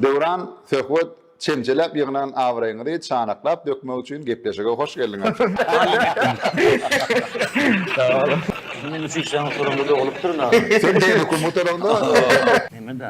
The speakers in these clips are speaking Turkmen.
Döwran, Söhbet, çemçeläp ýygnan abraýyňyzy çanaklap dökmek üçin gepleşige hoş geldiňiz. Sag boluň. Meň üçin şaňy soranda dogulypdyr nahar. Sen beýle hökümet olaňda. Neme-de?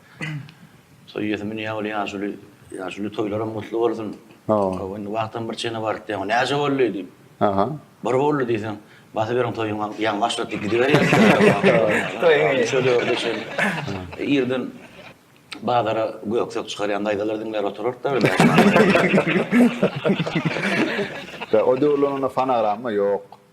Toý ýesimi niýe bolýa ýaşuly? Ýaşuly toýlaram gutly bolsun. Hawa. Indi wagtam bir çene barypdy ýaňy. Näçe boldy diýip. Aha. Bir boldy diýseň, basyberiň toýuň ýaňy başlapdy gidiberýär. Toýuň şöleýurdy şeýle. Irden bazara göksek çykarýan daýzalar diňlär oturarda. O döwürler onda fonogramma ýok.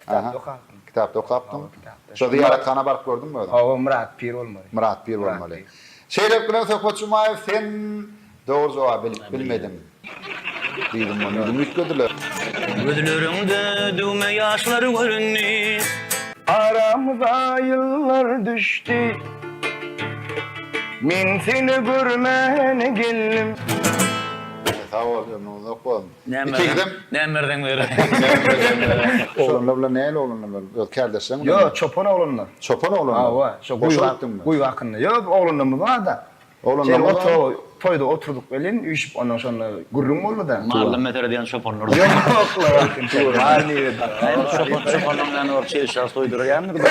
Kitapda okapdym. Kitapda okapdyň. Şo zyýarathana baryp gördüňmi özüň? Hawa, Myrat pir bolmaly. Myrat pir bolmaly. Şeýdip bilen Söhbet Jumaýew sen dogry jogaby bilip bilmediň. Diýdim ony öňem üýtgediler. Gözleriňde düwme ýaşlar göründi. Aramyza ýyllar düşdi. Men seni görmän geldim. Sag bol ömrüň uzak bolsun. Näme berseň, näme berseň berer. Oglanlar bilen nähili oglanlar bar? Öz kärdeşleriň bilenmi? Ýok, çopan oglanlar. Çopan oglanlar? Hawa, şo guýy gitdiňmi? Guýy hakynda. Ýok, oglanlarymyz bar-da. Oglanlaryň barmy? Şeýle otur, toýda oturdyk welin, üýşüp ondan şonda gürrüň boldy-da. Mally mesele diýen çopanlar. Ýok, la. Çopanlaryň näme bar, çelişýär, soýdurýarmydyka?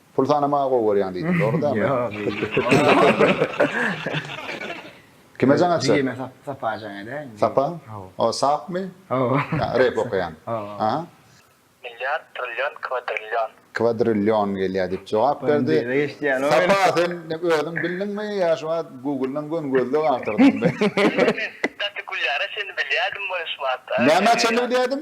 Pul sanamagy gowy görýäň diýdiň, dogry dämi? Kime jaň açjak? Jigime Sapa jaň edäýin. Sapa? Hawa. O sapmy? Hawa. Ýa, rep okaýan. Hawa. Aha. Milliard, trillion, kwadrillion. Kwadrillion gelýär diýip jogap berdi. Sapa, sen özüň bildiňmi ýa şu wagt Google-dan göni gözleg agtardyňmy? Gaty gülýär-ä, çenli bilýärdim boluşmaga. Nämä çenli bilýärdim?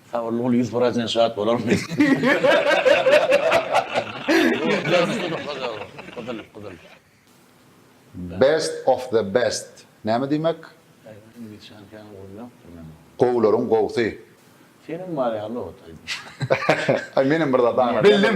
Sabyrly bol ýüz prasent şat bolaryn men. Best of the best näme diýmek? Gowularyň gowsy. Seniň bar ýaly ot aýdym. Aý menem bir zat aňladym. Bildim.